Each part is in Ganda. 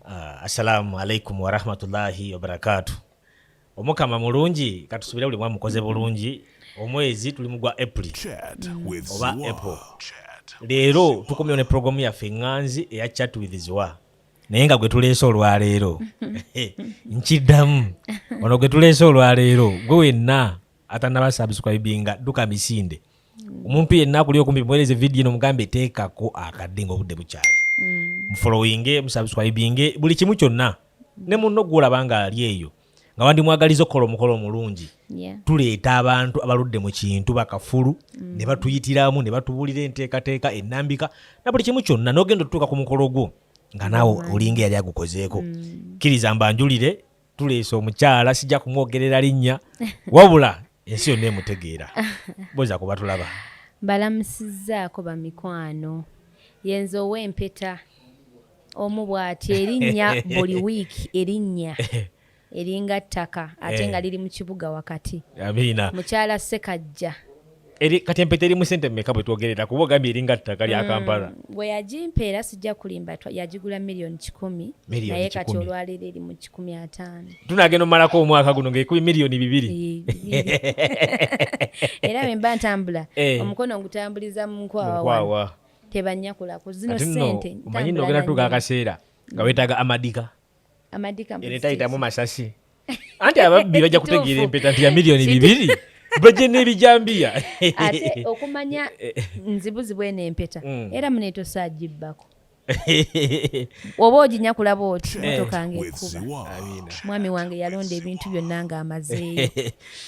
Uh, assalamu alaikum warahmatullahi wabarakatu omukama mulungi katusubire buli mwamukoze bulungi omwezi tuli mugwa april oba apple leero tukomyewo ne programu yaffe eŋŋanzi eya chat with ziwa naye nga gwe tuleese olwaleero nkiddamu ono gwe tuleese olwaleero gwe wenna atanaba subscribinga duka misinde omuntu yenna akuli okumpi muwereze vidiyo eno mugambe teekako akadde nga obudde bukyali mm. mufolowinge musubscribinge buli kimu kyonna ne munno gwolaba nga ali eyo nga wandimwagaliza okukola omukolo omulungi tuleeta abantu abaludde mu kintu bakafulu mm. ne batuyitiramu ne batubuulira enteekateeka ennambika na buli kimu kyonna n'ogenda otutuuka ku mukolo gwo nga naawe olinga eyali agukozeeko mm. kkiriza mbanjulire tuleese omukyala sijja kumwogerera linnya wabula ensi yonna emutegeera boza kuba tulaba balamusizaako bamikwano yenza ow'empeta omu bw'ati erinnya buli wiiki erinnya eringa ttaka ate eh. nga liri mu kibuga wakati mukyala sekajja eri kati empeta eri mu sente mmeka bwe twogerera kuba ogambye eringa ttaka lya mm, kampala bwe yagimpa era sijja kulimba yagigula miliyoni kikumi naye kati olwaleero eri mu kikumi ataano tunagenda omumalako omwaka guno ngaekubi miliyoni bibiri era bemba ntambula eh. omukono ngutambuliza mu nkwawa tebanyakulako zino sente manyi nogera tuga akaseera nga wetaaga amadika era etayitamu masasi anti ababbi bajja kutegeera empeta nti ya miliyoni bibiri bajje n'ebijambiya ate okumanya nzibuzibu eno empeta mm. era munetosagibbako oba oginya kulaba oti eh. motoka nga ekuba mwami wange yalonda ebintu byonna nga amazeeyo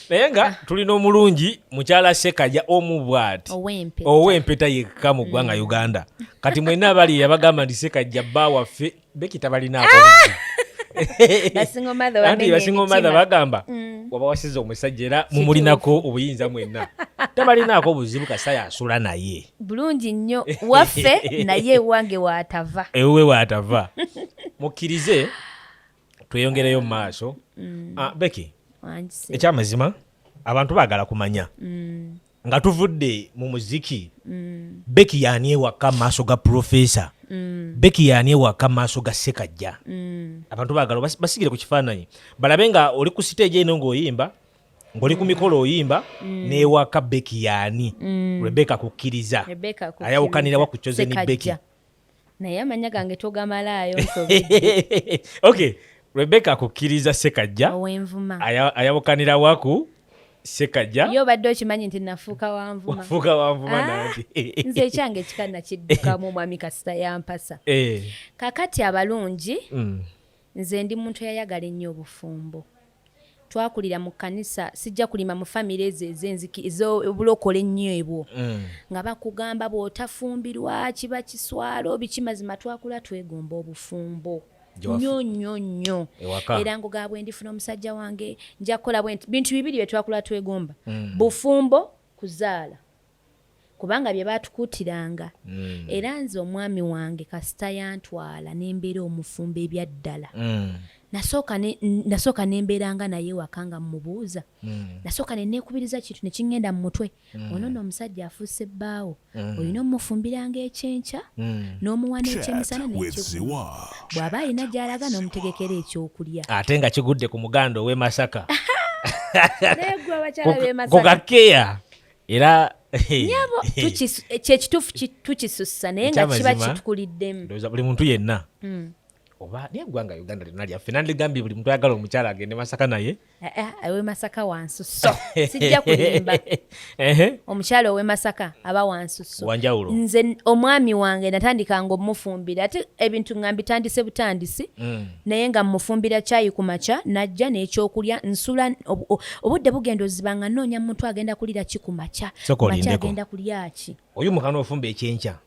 naye nga ah. tulina omulungi mukyala sekaja omu bwati ow'empeta yekka mu ggwanga mm. uganda kati mwena abali yabagamba nti sekajja bba waffe beki tabalinaako ah! anti basinga omadha bagamba mm. waba wasiza omusajja era mumulinako obuyinza mwenna tabalinaako obuzibu kasita yasula naye bulungi nnyo waffe naye ewange watava ewuwe watava mukkirize tweyongereyo mu maaso mm. ah, beki ekyamazima abantu bagala kumanya mm. nga tuvudde mu muziki mm. beki yaani ewaka maaso ga profesa mm. beki yaani ewaka maaso ga sekajja mm. abantu bagala basigire ku kifaananyi balabe nga oli ku siteegi eno ng'oyimba ng'oli ku mikolo oyimba mm. n'ewaka beki yaani mm. rebeka kukkiriza ayawukanirawa ku cozeni beki naye amanya gange togamalaayo okay rebeka akukkiriza sekajja owenvuma ayabukanira waku sekajja yo obadde okimanyi nti nafuuka wanvumafuuka wanvuma ah, nati nze ekyange kika nakiddukamu omwami kasita yampasa eh. kakati abalungi mm. Nze ndi muntu eyayagala ennyo obufumbo. Twakulira mu kkanisa, sijja kulima mu famire ezo ez'enziki ez'obulokole ennyo ebwo mm. nga bakugamba bw'otafumbirwa kiba kiswalo biki, mazima twakula twegomba obufumbo nyo nyo nyo era ngugaba bwe ndifuna omusajja wange nja kukola bintu bibiri bye twakula twegomba mm. bufumbo kuzaala kubanga bye baatukuutiranga mm. era nze omwami wange kasita yantwala ne mbeera omufumbo ebyaddala mm. nasooka ne mbeera nga naye waka nga mmubuuza mm. nasooka ne neekubiriza kintu ne kingenda mu mutwe mm. ono no omusajja afuuse bbaawo mm. olina omufumbiranga ekyenkya mm. n'omuwa n'ekyemisana nekikuwa bw'aba alina gy'alaga n'omutegekera ekyokulya ate nga kigudde ku muganda ow'e masaka naye gwe abakyala b'e masaka era nyabo kyekituufu tukisussa naye nga kiba kitukuliddemu buli muntu yenna hmm. oba naye eggwanga uganda lyonna lyaffe nandigambye buli muntu ayagala omukyala agende masaka naye eh, eh, ewe masaka wansuso sijja kulimba omukyala owe masaka aba wansuso wanjawulo nze omwami wange natandika nga omufumbira ate ebintu nga mbitandise butandisi mm. naye nga mmufumbira caayi ku makya n'ajja n'ekyokulya nsula obudde bugenda oziba nga nnoonya muntu agenda kulira ki ku makya makya agenda kulya ki oyo mukana ofumba ekyenkya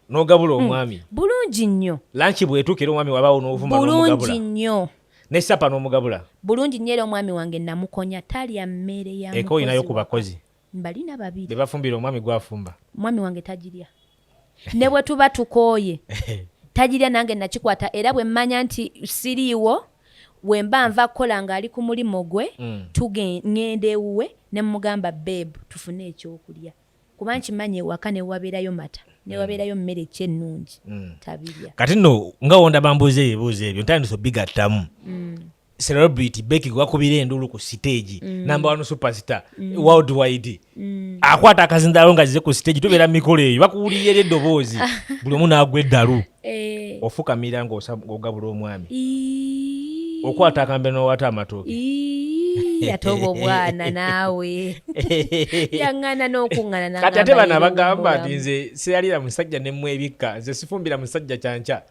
n'ogabula hmm. omwami bulungi nnyo lanki bwetuukira omwami wabaawo n'ovuma bulungi nnyo ne sapa n'omugabula bulungi nnyo era omwami wange namukonya talya mmere ya eka olinayo ku bakozi mbalina babiri bebafumbira omwami gwafumba mwami wange tagirya ne bwe tuba tukooye tagirya nange nakikwata era bwe mmanya nti siriiwo wemba nva kukola ng'ali ku mulimu gwe mm. tugenda ewuwe ne mugamba beebu tufune ekyokulya kuba nkimanyi ewaka newabeerayo mata newabeerayo mmere mm. ekyennungi mm. tabirya kati nno nga wonda bambuuza ebibuuzo ebyo ntandisa obigattamu celebrity beki gwakubira enduulu ku siteegi mm. number one superstar mm. world wide mm. akwata akazindalo nga zize ku siteegi tubeera mu mikolo eyo bakuwulira era eddoboozi buli omu naagwa eddalu eh. ofukamira ngaogabula omwami okwata akambe nowata amatooke yatoba obwana naawe yaŋŋana n'okuŋŋana kati ate bano abagamba nti nze seyalira musajja nemwebikka nze sifumbira musajja kyankya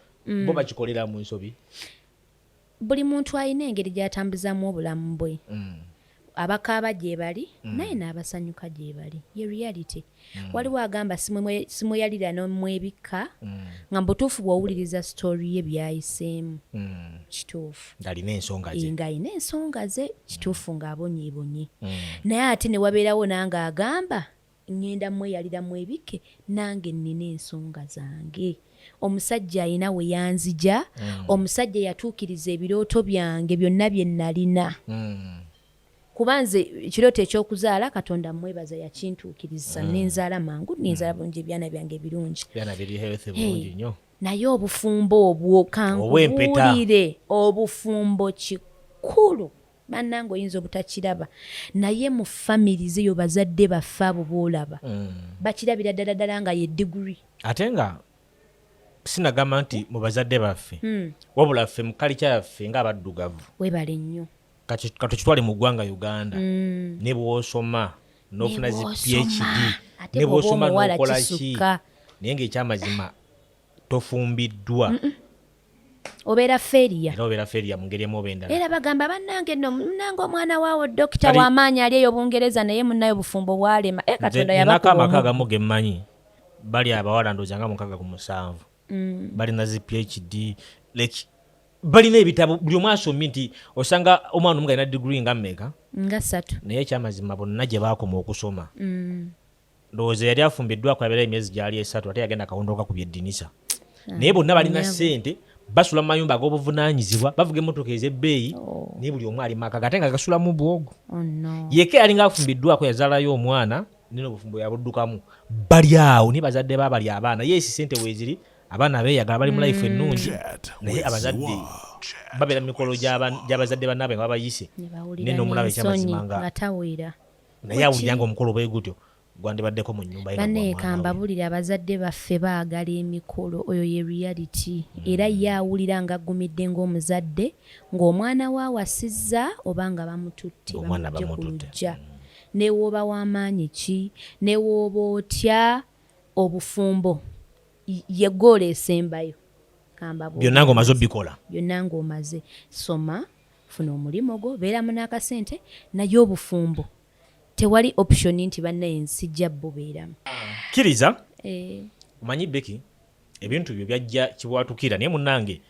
bo bakikolera mu nsobi buli muntu alina engeri gyatambuzaamu obulamu bwe mm. abakaaba gyebali mm. naye n'abasanyuka gyebali ye reality mm. waliwo agamba simweyalira nomwebikka mm. nga mubutuufu bwowuliriza story ye byayiseemu mm. kituufu ngalina ensonga ze ngalina ensonga ze kituufu mm. ng'abonyeebonye mm. naye ate ne wabeerawo nange agamba Ngenda mweyalira mwebikke nange nnina ensonga zange. Omusajja alina we yanzija, mm. omusajja yatuukiriza ebirooto byange byonna bye nnalina. Mm. Kuba nze ekirooto eky'okuzaala Katonda mmwebaza yakintuukiriza mm. nenzaala mangu nenzaala mm. bulungi ebyana byange ebirungi. Byana biri healthy bulungi nnyo. Hey. naye obufumbo obwo kankubuulire obufumbo kikulu Banange oyinza obutakiraba naye mu family zeyo bazadde baffe abo boolaba mm. bakirabira ddala ddala nga ye degree ate nga sinagamba nti mu bazadde baffe mm. wabula ffe mu kalikya yaffe nga abaddugavu webale nnyo katukitwale mu ggwanga uganda mm. ne bwosoma nofuna zi phd ne bwosoma nokola ki naye ngaekyamazima tofumbiddwa mm -mm. obeera feria era obeera feria mu ngeri emu oba endala era bagamba bannange no munange omwana waawo dokita w'amaanyi ali eyo bungereza naye munnaye obufumbo bwalema e katonda yabakuba amaka agamu ge mmanyi bali abawala ndooza nga mukaga ku musanvu mm. balina zi phd like balina ebitabo buli omu asomye nti osanga omwana omu galina digiri nga mmeeka nga ssatu naye ekyamazima bonna gye baakoma okusoma mm. ndowooza yali afumbiddwako yabeerayo emyezi gyali esatu ate yagenda kawondo kakubya eddinisa ah, naye bonna balina ssente basula mu mayumba ag'obuvunaanyizibwa bavuga emmotoka ez'ebbeeyi oh. naye buli omu ali maka gate nga gasulamu bwogo oh, yeka yali nga afumbiddwako yazaalayo omwana nina obufumbo yabuddukamu bali awo naye bazadde ba bali abaana yeesi ssente weeziri abaana beeyagala bali mu life mm. ennungi naye abazadde babeera mu mikolo gy'abazadde bannaabwe nga babayise naye n'omulaba ekyamazima nga naye awulira nga omukolo bwe gutyo gwandibaddeko mu nyumba yekambabulire abazadde baffe baagala emikolo oyo ye reality mm. era ye awulira nga aggumidde ng'omuzadde ng'omwana we awasizza oba nga bamututte bamujje ku lujja mm. newooba w'amaanyi ki newooba otya obufumbo ye goola esembayo byonna ng'omaze obikola byonna ng'omaze soma funa omulimu gwo beeramu n'akasente naye obufumbo tewali option nti bannaye nsijja bubeeramu kkiriza eh. omanyi beki ebintu byo byajja kibwatukira naye munange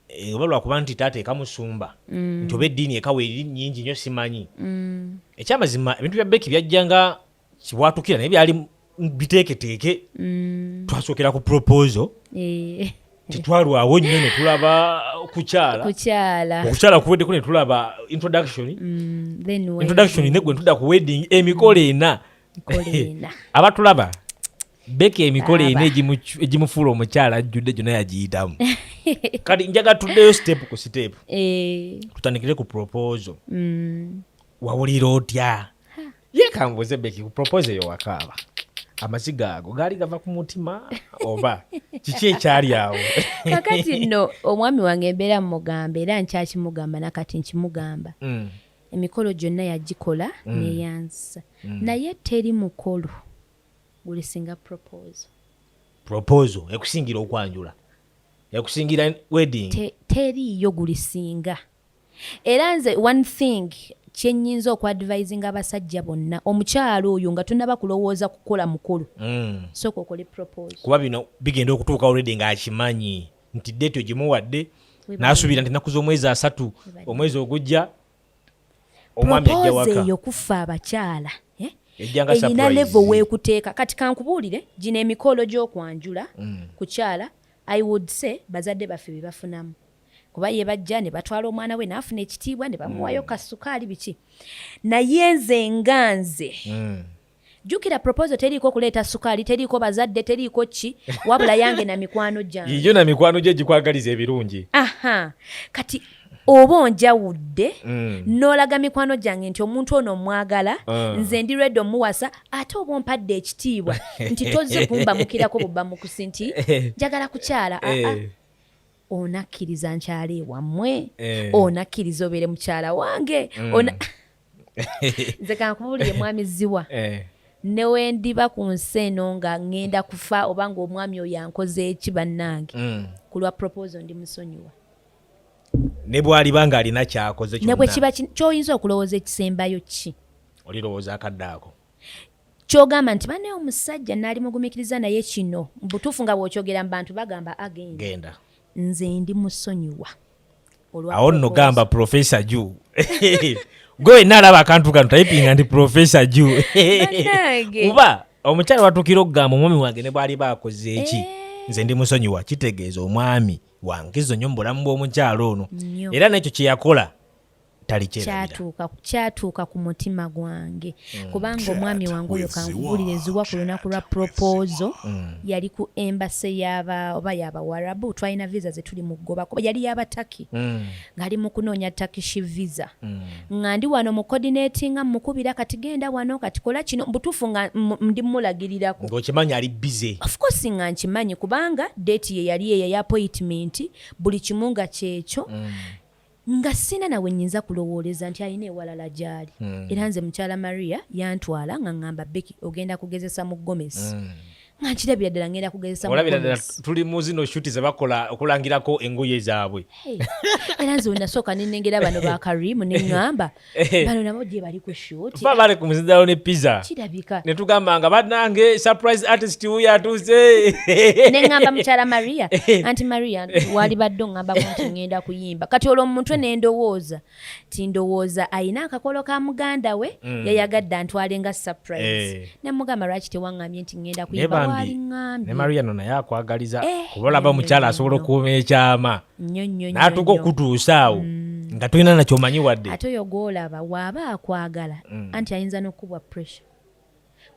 eh, oba lwakuba nti taata ekamusumba mm. nti oba eddiini ekawa eri nyingi nyo simanyi mm. ekyamazima ebintu bya beki byajja nga kibwatukira naye byali biteeketeeke mm. twasookera ku proposal eh. tetwalwawo nnyo netulaba kukyala okukyala kuweddeko netulaba introduction mm, introduction negwe ntuda ku wedding emikolo mm. ena abatulaba beka emikolo ena egimufuula omukyala ajjudde gyona yagiyitamu kati njaga tuddeyo sitepu ku sitepu eh. tutandikire ku proposal wawulira otya ye kambuuze beki ku propose eyo wakaaba amaziga ago gaali gava ku mutima oba kiki ekyali awo kakati nno omwami wange embeera mumugamba era nkyakimugamba nakati nkimugamba mm. emikolo gyonna yagikola mm. neyanzisa mm. naye teri mukolo gulisinga proposal proposal ekusingira okwanjula ekusingira wedding teriiyo gulisinga Era nze one thing kyenyinza oku advising abasajja bonna omukyalo oyo nga tunaba kulowooza kukola mukolo mm. soka okole propose kuba bino bigenda okutuuka already nga akimanyi nti date ogimuwadde nasuubira nti nakuza omwezi asatu omwezi ogujja omwami ajja waka eyo kuffa abakyala eh? erina levo wekuteeka kati kankubuulire gino emikolo gyokwanjula mm. kukyala i would say bazadde baffe bebafunamu kuba ye bajja ne batwala omwana we n'afuna ekitiibwa ne bamuwayo mm. kasukaali biki naye nze nga nze mm. jukira proposal teriiko okuleeta sukaali teriiko bazadde teriiko ki wabula yange na mikwano gyange yiyo na mikwano gye gikwagaliza ebirungi aha kati oba onjawudde mm. n'olaga mikwano gyange nti omuntu ono omwagala uh. nze ndi redi omuwasa ate oba ompadde ekitiibwa nti tozze kumbamukirako bubbamukusi nti njagala kukyala aa eh. ah, ah. onakkiriza nkyala ewammwe eh. onakkiriza obeere mukyala wange mm. nze kankubuulire mwami ziwa eh. newendiba ku nsi eno nga ŋŋenda kufa oba ngaomwami oyo ankoze eki bannange mm. ku lwa proposo ndi musonyiwa ne bwaliba ng'alina kyakoze ne bwe kiba kyoyinza okulowooza ekisembayo ki olirowooza akadde ako kyogamba nti banaye omusajja nali mugumikiriza naye kino mubutuufu nga bwokyogera mubantu bagamba agenda nze ndi musonyiwa awo nno gamba profesa ju gwe wenna alaba akantu kano tayipinga nti profesa ju kuba omukyala watukira okugamba omwami wange ne bwali bakoze eki eh. nze ndi musonyiwa kitegeeza omwami wankizo nyo mu bulamu bw'omukyala ono era nekyo kyeyakola kyatuuka ku mutima gwange mm. kubanga omwami wange oyo kankubuulire ziwa ku lunaku lwa propozo mm. yali ku embase yaba oba yabawarabu twalina visa zetuli mu kugoba kuba yali yabataki mm. ngaali mu kunoonya takishi visa nga ndi wano mu coordinatinga mukubira kati genda wano kati kola kino butuufu nga ndi mulagirirako ngaokimanyi ali bize ofcourse nga nkimanyi kubanga date ye yali eyo ya appointment buli kimu nga kyekyo nga sina nawe nyinza kulowooleza nti alina ewalala gyali mm. era nze mukyala maria yantwala nga ngamba beki ogenda kugezesa mu gomes mm. nga nkirabira ddala ngenda kugezesa olabira ddala tuli mu zino shuti zebakola okulangirako engoye zaabwe era nze wenasooka nenengera bano ba karimu neŋŋamba Eh. bano nabo gye bali ku shuti ba bali ku muzindalo ne pizza kirabika ne tugamba nga banange surprise artist wuyo atuuse ne ngamba mukyala maria eh. anti maria wali badde ongamba kunti ngenda kuyimba kati olwo mumutwe ne ndowooza ti ndowooza ayina akakolo ka muganda we mm. yayagadde antwale nga surprise eh. ne mugamba lwaki tewangambye nti ngenda kuyimba wali ngambye ne maria no naye akwagaliza kuba olaba mukyala asobola okuuma ekyama natuka okutuusa awo mm. nga tolina nakyomanyi wadde ate oyo gwolaba waaba akwagala mm. anti ayinza nokukubwa pressure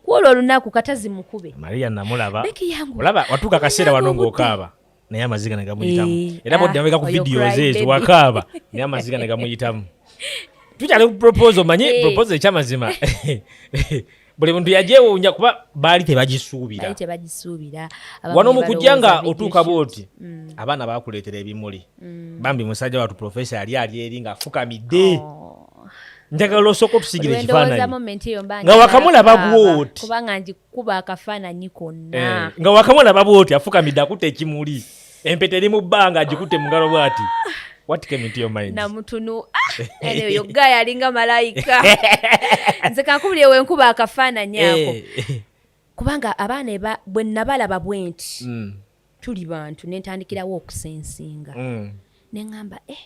kwolwo olunaku katazi mukube maria namulaba olaba watuuka akaseera wano ngaokaaba naye amaziga negamuyitamu eh, era bodamabeka ah, ku videos ezo wakaaba naye amaziga negamuyitamu tukyali ku proposal manyi eh. proposal ekyamazima buli muntu yajewuunya kuba baali tebagisuubira tebagisuubira wano mu kujja nga otuuka bwoti mm. abaana bakuleetera ebimuli mm. bambi musajja watu profesa yali ali eri ng'afukamidde oh. njagala osooka otusigira ekifaananyinga wakamulaba bwoti kubanga ngikuba akafaananyi konna eh, nga wakamulaba bwoti afukamidde akuta ekimuli empeta eri mu bbanga agikutte mu ngalo bwati namutunu oyo ah! gaya alinga malayika nze kankubulire wenkuba akafaananyi eh. ako kubanga abaana bwe nabalaba bwenti mm. tuli bantu nentandikirawo okusensinga mm. neŋamba e eh,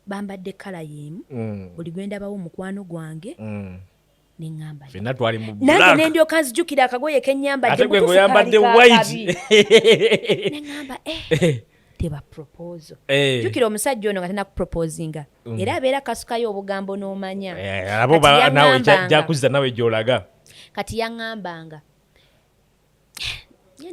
bambadde kala yemu mm. buli gwendabawo mukwano gwange neŋamba fenna twali mu black nange nendyoka nzijukira akagoye kenyambadde ate gwe ngoyambadde white neŋamba eh, eh. teba proposal eh. jukira omusajja ono nga tena kuproposinga mm. era abeera kasukayo obugambo n'omanya eh, abo nawe jakuziza nawe gyolaga kati yaŋambanga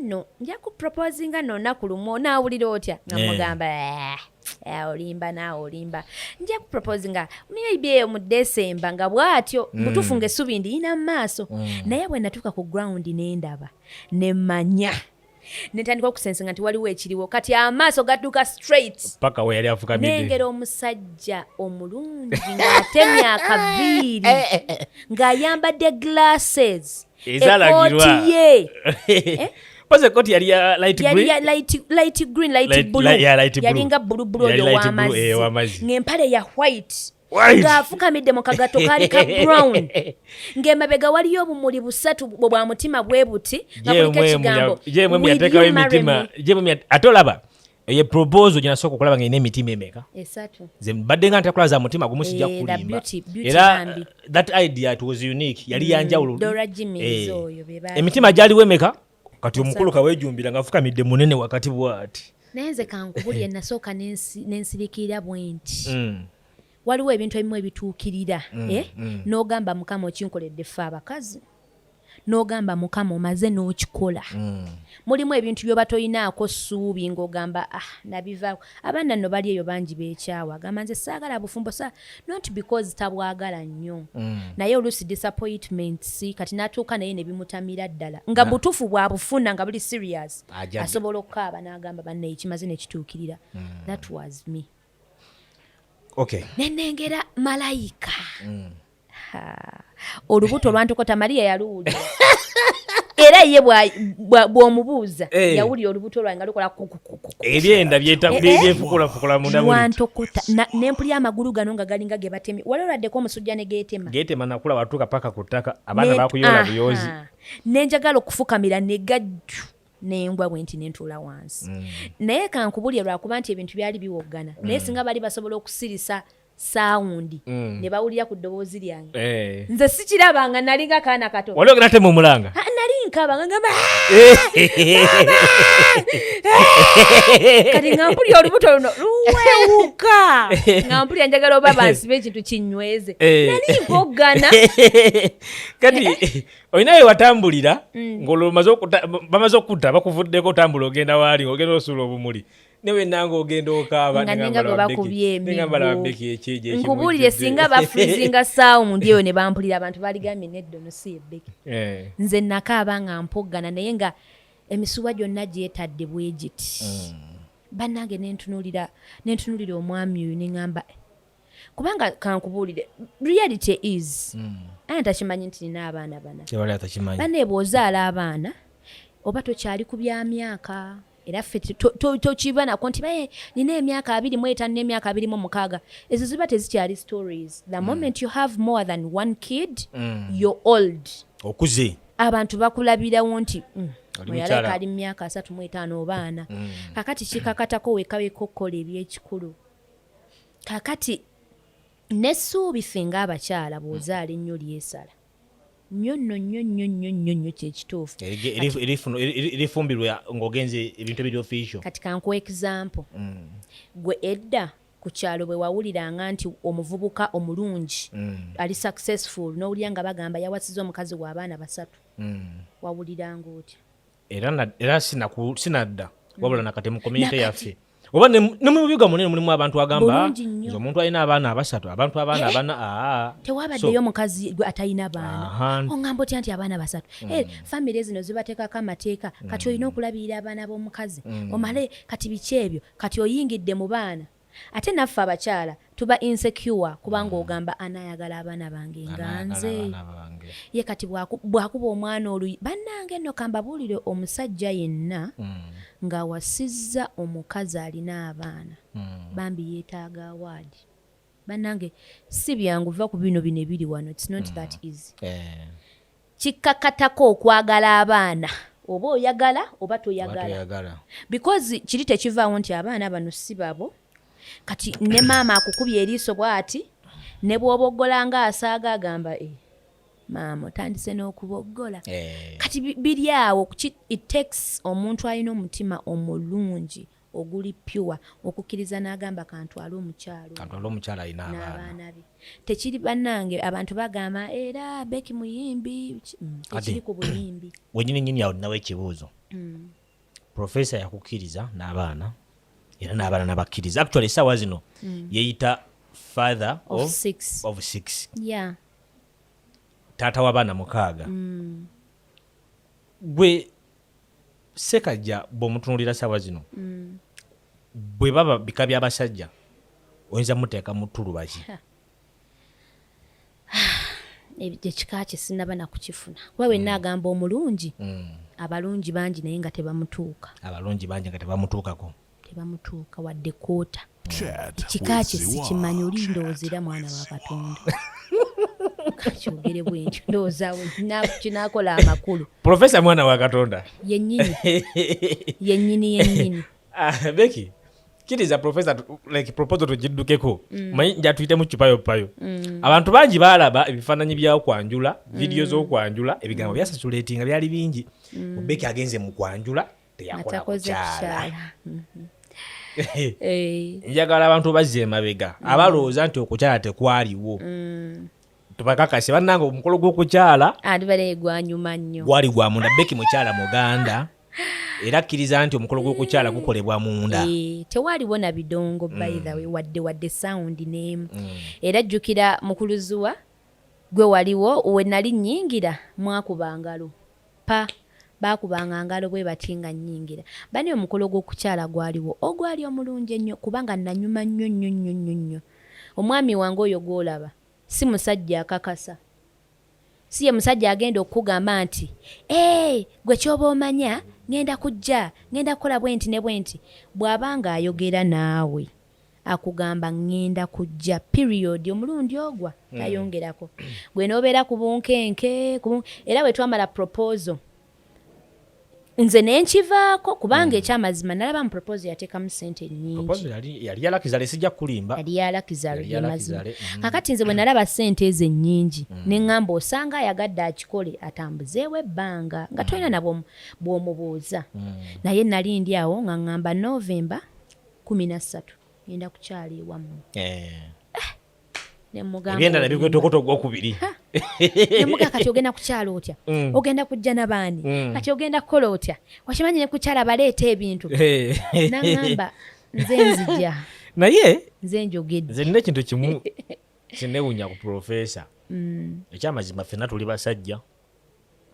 no nja ku proposinga no naku lumu onaawulira otya nga eh. mugamba eh, eh, olimba naawe olimba nja ku proposinga maybe eyo mu desemba nga bwatyo mm. butuufu nga essubi ndiyina mu maaso mm. naye bwe natuuka ku ground ne ndaba ne manya netandika okusensenga nti waliwo ekiriwo kati amaaso gadduka straight paka weyali afukamiddenengera omusajja omulungi ng'atemya akaviiri ng'ayambadde glasses ekooti ye eh? Pose koti yali ya light green. Yali ya light, light green, light light, blue. Light, yeah, light blue. Yalinga blue blue oyo wamazi. Eh, wamazi. Ngempale ya white. ng'afukamidde mu kagato kaali ka brown ng'emabega waliyo obumuli busatu bwa mutima bwe buti nga kuliko ekigambo ate olaba eyo proposal gye nasooka okulaba nga erina emitima emeka mbadde nga ntera kulaba za mutima gumu sijja eh, kulimba era uh, that idea it was unique yali mm, yanjawulo eh, emitima gyaliwo emeka kati omukulu kawejumbira nga afukamidde munene wakati bwati naye nze kankubulire nasooka nensirikirira bwenti mm. waliwo ebintu ebimu ebituukirira mm, eh? mm. n'ogamba mukama okinkoledde ffe abakazi n'ogamba mukama omaze n'okikola mm. mulimu ebintu byoba tolinaako ssuubi ng'ogamba ah nabivaako abaana nno bali eyo bangi beekyawa agamba nze saagala bufumbo sa not because tabwagala nnyo mm. naye oluusi disappointments kati n'atuuka naye ne bimutamira ddala nga butuufu bwabufuna nga buli serious asobola okukaaba n'agamba bannaye kimaze nekituukirira mm. that was me okay. nenengera malayika mm. olubuto olwantokota maria yaluwulira era ye bw'omubuuza hey. Eh. yawulira olubuto lwange nga lukola ebyenda eh, eh. byefukulafukula mundawantokuta nempulya amagulu gano nga galinga ge batemi wali oladdeko omusujja ne geetema geetema nakula watuuka paka ku ttaka abaana bakuyola buyozi nenjagala okufukamira negajju nengwa bwenti nentuula wansi mm. naye kankubulire lwakuba nti ebintu byali biwoggana mm. naye singa bali basobola okusirisa sawundi mm. ne bawulira ku ddoboozi lyange eh. nze sikiraba nga nali nga kaana kato wali ogera te mumulanga nali nkaba nga ngamba eh. Eh. kati nga mpulira olubuto luno luwewuka nga mpulira njagala oba bansiba ekintu kinyweze nali mpoggana kati olina we watambulira mm. ng'olwobamaze okutta bakuvuddeko otambula ogenda waali ogenda osuula obumuli newenanga ogenda okaabaakubyemikubuulire singa bafrizinga saawo mundi eyo ne bampulira abantu baligambye neddo nosi ebeki eh. nze nakaaba nga mpoggana naye nga emisuwa gyonna gyetadde bwegiti mm. bannange nentunulira omwami oyo neŋamba kubanga kankubuulire reality is mm. ani takimanyi nti nina abaana bana bane bwozaala abaana oba tokyali ku bya myaka era ffe tokibanako nti baye nina emyaka abiri mu etaano n'emyaka abiri mu mukaaga ezo ziba tezikyali stories the mm. moment mm. you have more than one kid mm. you're old okuze abantu bakulabirawo nti mm. oyaleka ali mu myaka asatu mu etaano obaana mm. kakati kikakatako wekaweka okukola ebyekikulu kakati nesuubi finga abakyala bwozaala ennyo lyesala nyo no nyo nyo nyo nyo nyo kyekituufu lifumbirwa ngaogenze ebintu ebiri official kati kankuwa example mm. gwe edda ku kyalo bwe wawuliranga nti omuvubuka omulungi mm. ali successful n'owulira nga bagamba yawasiza omukazi w'abaana basatu mm. wawuliranga otya era sinadda wabula nakati mu komyunite yaffe oba ne mu bibuga munene mulimu abantu agamba nze omuntu alina abaana abasatu abantu abaana eh? abana ah. tewabaddeyo mukazi gwe atalina baana oŋamba otya nti abaana basatu mm. eh, famiry zino zibateekako amateeka kati mm. olina okulabirira abaana b'omukazi mm. omale kati biki ebyo kati oyingidde mu baana Ate naffe abakyala tuba insecure kubanga mm. ogamba anayagala abaana bange nganze ye kati bwakuba omwana oluyi bannange no kambabuulire omusajja yenna mm. ng'awasizza omukazi alina abaana mm. bambi yeetaaga awaadi bannange si byangu va ku bino bino ebiri wano its not that easy eh. Kikkakatako okwagala abaana oba oyagala oba toyagala because kiri tekivaawo nti abaana bano si babo kati ne maama akukubye eriiso bwati ne bwoboggola nga asaaga agamba e maama otandise n'okuboggola eh. kati biri awo it takes omuntu alina omutima omulungi oguli pure okukiriza nagamba kantwale omukyalo kantwale omukyalo alina abaana be tekiri banange abantu bagamba era beki muyimbi mm, tekiri ku buyimbi wenyini nyini awo nawe ekibuuzo mm. profesa yakukiriza n'abaana era n'abaana nabakkiriza actually esawa zino mm. yeyita father of, of six, of six. Yeah. taata w'abaana mukaaga mm. gwe Ssekajja bw'omutunuulira ssaawa zino mm. bwe baba bika by'abasajja oyinza muteeka mu ttulubazi ekika kye sinaba na kukifuna kuba wenna mm. agamba omulungi mm. abalungi bangi naye nga tebamutuuka abalungi bangi nga tebamutuukako tebamutuuka wadde koota ekika kye sikimanyi oli ndowooza era mwana wa katonda kakyogere bwentyo ndowooza kinakola amakulu profesa mwana wa katonda yenyini yenyini yenyini ah, beki kiriza profesa like proposal tugiddukeko mm. manyi njatuyitemu kipayo payo mm. abantu bangi baalaba ebifaananyi byakwanjula vidiyo mm. z'okwanjula ebigambo byasasulatinga byali bingi mubeki agenze mu kwanjula teyakola kukyala eh. njagala abantu bazza emabega mm. abalowooza nti okukyala tekwaliwo mm. tubakakase bannanga omukolo gw'okukyala gwanyuma nnyo gwali gwa munda beki mukyala muganda era akkiriza nti omukolo gw'okukyala eh. gukolebwa munda eh, tewaliwo na bidongo mm. bythawe wadde wadde sawundi n'emu era jjukira mukuluzuwa gwe waliwo we nali nnyingira mwakuba ngalo Pa, baakubanga ngalo bwe bati nga nnyingira. Bane omukolo gw'okukyala gwaliwo, ogwali omulungi ennyo kubanga nanyuma nnyo nnyo nnyo nnyo nnyo. Omwami wange oyo gw'olaba, si musajja akakasa. Si ye musajja agenda okukugamba nti, Eeh, gwe ky'oba omanya, ngenda kujja, ngenda kukola bwenti ne bwenti. Bw'aba ng'ayogera naawe. akugamba ngenda kujja period omulundi ogwa mm. tayongerako gwe nobeera ku bunkenke era bwe twamala proposal nze nenkivaako kubanga mm. ekyamazima nalaba mu proposal yateekamu sente nyingiyalyalakizalesijja kulimba yali yalakizalmazima mm. kakati nze bwe nalaba sente ezo ennyingi mm. neŋŋamba osanga ayagadde akikole atambuzeewo ebbanga nga tolina nabwo bwomubuuza naye nali ndi awo nga ŋŋamba novemba kumi na ssatu ngenda kukyala ewammwe eh. ebyenda nabikwetokoto ogwokubiri nemuga kati ogenda kukyala otya mm. ogenda kujja nabaani mm. kati ogenda kukola otya wakimanyi nekukyala baleeta ebintu eh. nagamba nze nzija naye nze njogedde nze nina ekintu kimu kinewunya ku profesa mm. ekyamazima fena tuli basajja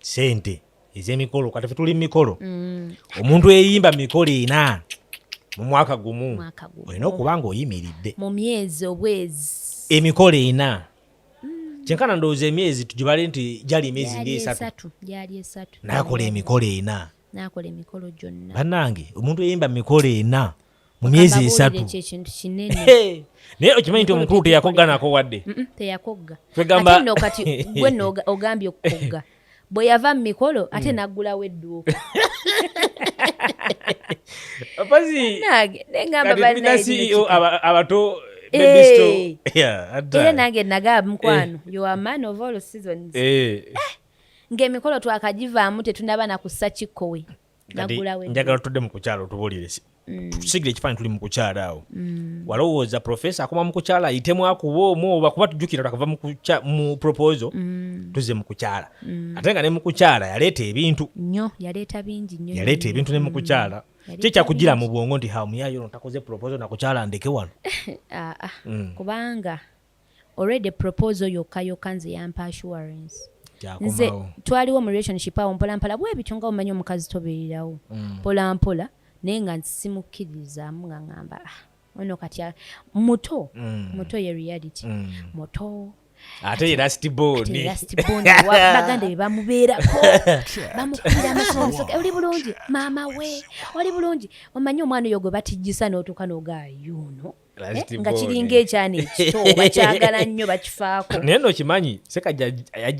sente ezemikolo kati fetuli mumikolo mm. omuntu eyimba mumikolo ena mu mwaka gumu olina okuba nga oyimiridde mu myezi obwezi emikolo ena mm. kyenkana ndowooza emyezi tugibale nti gyali emyezi nga esatu nakola emikolo ena banange omuntu eyimba mumikolo ena mu myezi esatu naye okimanyi nti omukulu teyakogganako wadde teyakogga no kati gwe ogambye okukogga bwe yava mu mikolo ate mm. naggulawo edduuka ceo abato eh. era nange nagaba mukwano eh. yoa man of all seasons eh. ng'emikolo twakagivaamu tetunaba na kussa kikkowe njagala tudde mukukyalo tubulire Mm. tusigire ekifaanyi tuli mu kukyala awo mm. walowooza profesa akoma mu kukyala ayitemu akuba omu oba kuba tujjukira takava mu proposal mm. tuze mu kukyala ate nga ne mu kukyala yaleeta ebintu yaleeta ebintu ne mu kukyala kyekyakujira mu bwongo nti hamuyayo no takoze proposal nakukyala ndeke wano ah, ah. kubanga already proposal yokka yokka nze yampa assurance nze twaliwo mu relationship awo mpola mpola bwebityo nga omanyi omukazi tobeererawo mm. mpola mpola naye nga nsimukkiririzaamu nga ngamba ah, ono kati muto mm. muto ye reality mm. muto ate ye last bornbaganda be bamubeerako bamukubira amasomusoga oli bulungi maama we oli bulungi omanyi omwana oyo gwe batijjisa n'otuuka n'ogaa yuuno Eh, nga kiringa ekyana ekito bakyagala nnyo bakifaako naye no kimanyi sekajja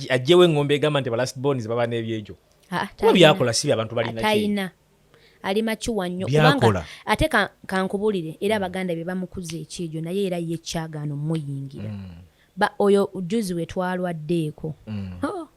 ajjewo engombe egamba nti balast bonis baba n'ebyekyo ah, kuba byakola si byabantu balinatayina ali makiwa nnyo kubanga ate kankubulire era mm. abaganda be bamukuza ekyejo naye era ye kyagaano muyingira mm. oyo juzi wetwalwaddeeko mm. oh,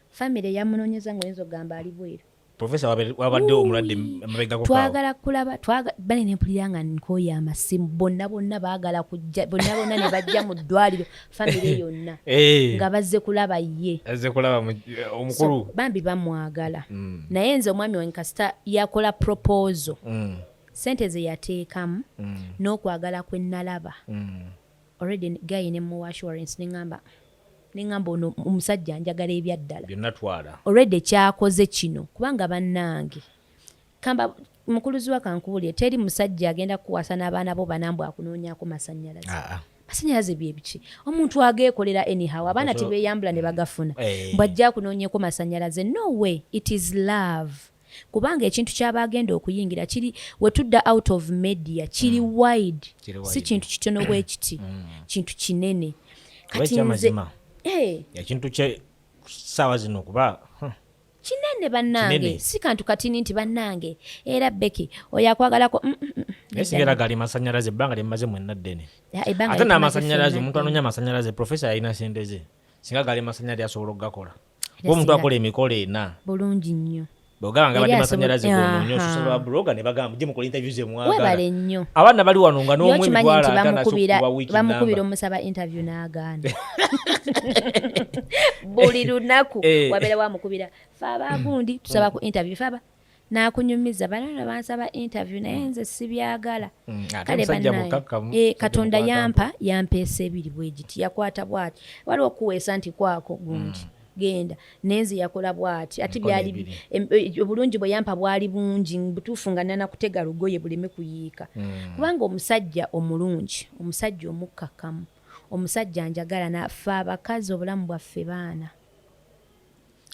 famiry yamunonyeza ngaoyinza okugamba ali bweru profesa wabadde omulwadde mabegako twagala kulaba bale nempulira nga nkoyo amasimu bonna bonna bagala kujja bonna bonna ne bajja mu ddwaliro famire yonna eh. nga bazze kulaba ye azze kulaba eh, omukulu bambi bamwagala mm. naye nze omwami wange kasita yakola propozo mm. sente ze yateekamu mm. n'okwagala kwe nalaba already gayi ne mu assurance ne ŋamba nengamba ono omusajja anjagala ebyaddala already kyakoze kino kubanga bannange kamba mukuluzi wa kankubulire teri musajja agenda kuwasa n'abaana bo banambu akunoonyako masanyalaze ah, ah. masanyalaze byebiki omuntu ageekolera anyhow abaana tebeyambula ne bagafuna eh. mbwajja akunoonyeko masanyalaze no way it is love kubanga ekintu kyaba agenda okuyingira kiri wetudda out of media kiri mm. wide si kintu kitono bwekiti mm. kintu kinene eh. ekintu saawa zino kuba kinene banange si kantu katini nti banange era beki oyo akwagalako mm, sigera gali masanyalaze ebbanga lyemmaze mwenna ddene ate n'amasanyalaze omuntu anoonya amasanyalaze profesa yalina sente ze singa gali masanya ali asobola okugakola kuba omuntu akola emikolo ena bulungi nnyo bwegamba nga badde masanyalaze gononyo osusaba babuloga ne bagamba mujje mukola interview ze mwagala nnyo abaana bali wano nga n'omwe emitwalo atana sokuba wiki namba bamukubira omusaba interview n'agaana buli lunaku eh. wabeera wamukubira fe abagundi tusaba ku interview fe aba nakunyumiza banana bansaba interview naye mm. nze sibyagala mm, kale banaye eh, katonda yampa yampeesa ebiri bwegiti yakwata bwati waliwo okuweesa nti kwako gundi mm. genda nenze yakola bwati ati byali eh, obulungi bwe yampa bwali bungi butuufu nga nana kutega lugoye buleme kuyiika kubanga omusajja omulungi omusajja omukkakkamu omusajja njagala nafe abakazi obulamu bwaffe baana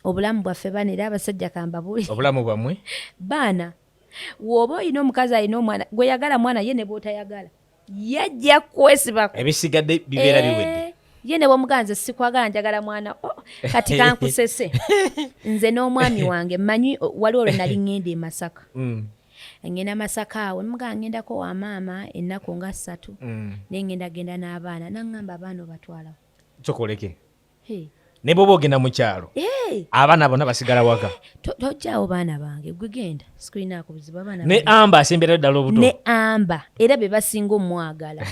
obulamu bwaffe bana era abasajja kambabuli obulamu bwamwe baana woba olina omukazi alina omwana gweyagala mwana ye ne bwotayagala yajja kwesibako ebisigadde bibeera eh, biwedde ye ne bwomuganze sikwagala njagala mwana oh, kati kankusese nze n'omwami wange manyi waliwo lwe nali ngenda e masaka mm. ngenda masaka awo emuga ngendako wa maama ennaku nga ssatu mm. naye ngenda genda n'abaana nangamba abaana obatwalawo kyokoleke ne bwoba ogenda mu kyalo abaana bona basigala waka tojjawo baana bange gwe genda sikulinaako buzibu abaana ne amba asembera ddala obuto ne amba era be basinga omwagala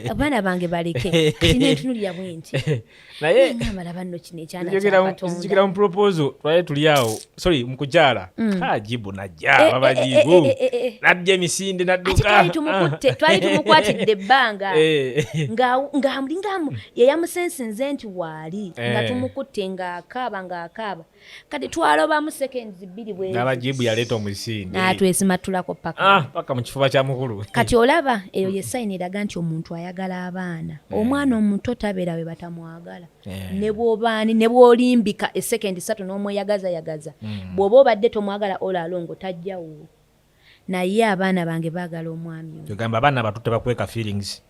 abaana bange baleke tinentunulira bwenti naye nyamala banno kino ekyanakyakatonda mu proposal twali tuli awo sorry mukujala mm. kajibu najja eh, eh, babajibu eh, eh, eh, eh. najja emisinde nadduka twali tumukutte twali tumukwatidde ebbanga ngaamulingamu yeyamusensinze nti waali nga tumukutte ngaakaaba ngaakaaba kati twalobamu seconds bbiri bwenabajibu yaleeta omusinde natwesimattulako paka ah, paka mu kifuba kya mukulu kati olaba eyo ye sayini eraga nti omuntu ayagala abaana omwana omuto tabeera we batamwagala Eh. ne bwobaani ne bwolimbika esekendi satu n'omweyagazayagaza hmm. bw'oba obadde tomwagala ola alongo tajjawo naye abaana bange baagala omwami ogamba abaana batu tebakweka feelings